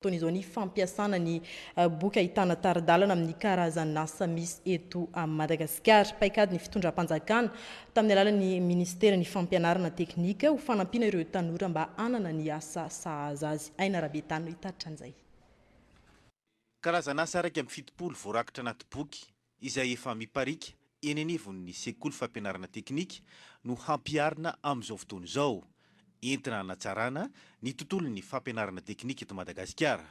Toy izao ny fampiasana ny boky ahitana tari-dalana amin'ny karazan'asa misy eto Madagasikara. Paikady ny fitondram-panjakana tamin'ny alalan'ny minisiteran'ny Fampianarana teknika ho fanampiana ireo tanora mba hanana ny asa sahaza azy. Aina Rabetano hitaritra an'izay. Karazan'asa iraika amby fitopolo voarakitra anaty boky izay efa miparika eny anivon'ny sekoly fampianarana teknika no hampiharina amin'izao fotoana izao, entina hanatsarana ny tontolon'ny fampianarana teknika eto Madagasikara.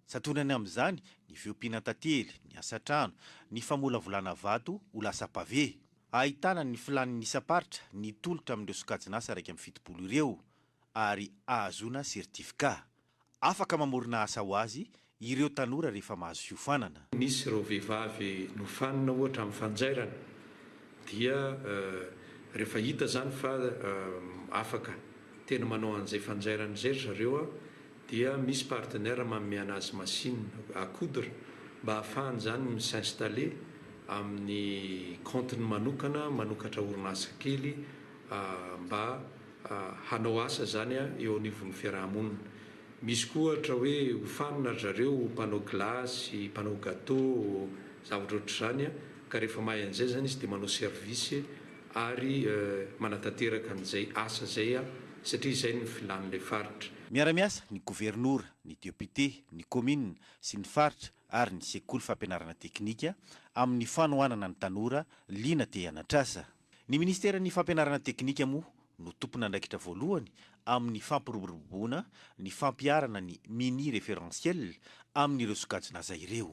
Santionany amin'izany ny fiompiana an-tantely, ny asa an-trano, ny famolavolana vato ho lasa pavé. Ahitana ny filàn'ny isam-paritra ny tolotra amin'ireo sokajin'asa iraika amby fitopolo ireo ary ahazoana certificat. Afaka mamorona asa ho azy ireo tanora rehefa mahazo fiofanana. Misy ireo vehivavy nofanina ohatra amin'ny fanjairana dia rehefa hita izany fa afaka tena manao an'izay fanjairana izay ry zareo dia misy partenaire manome an'azy machine à coudre mba hahafahany izany mi s'installer amin'ny compte-ny manokana, manokatra orinasa kely mba hanao asa izany eo anivon'ny fiaraha-monina. Misy koa ohatra hoe hofanina ry zareo ho mpanao gilasy, mpanao gateau, zavatra ohatr'izany ka rehefa mahay an'izay izany izy dia manao service ary manatanteraka an'izay asa izay satria izay no filan'ilay faritra. Miara-miasa ny governora, ny depiote, ny kaominina sy ny faritra ary ny sekoly fampianarana teknika amin'ny fanohanana ny tanora liana te-hanatr'asa. Ny Ministeran'ny Fampianarana Teknika moa no tompon'andraikitra voalohany amin'ny fampiroboroboana ny fampiharana ny mini-référentiel amin'ireo sokajin'asa ireo.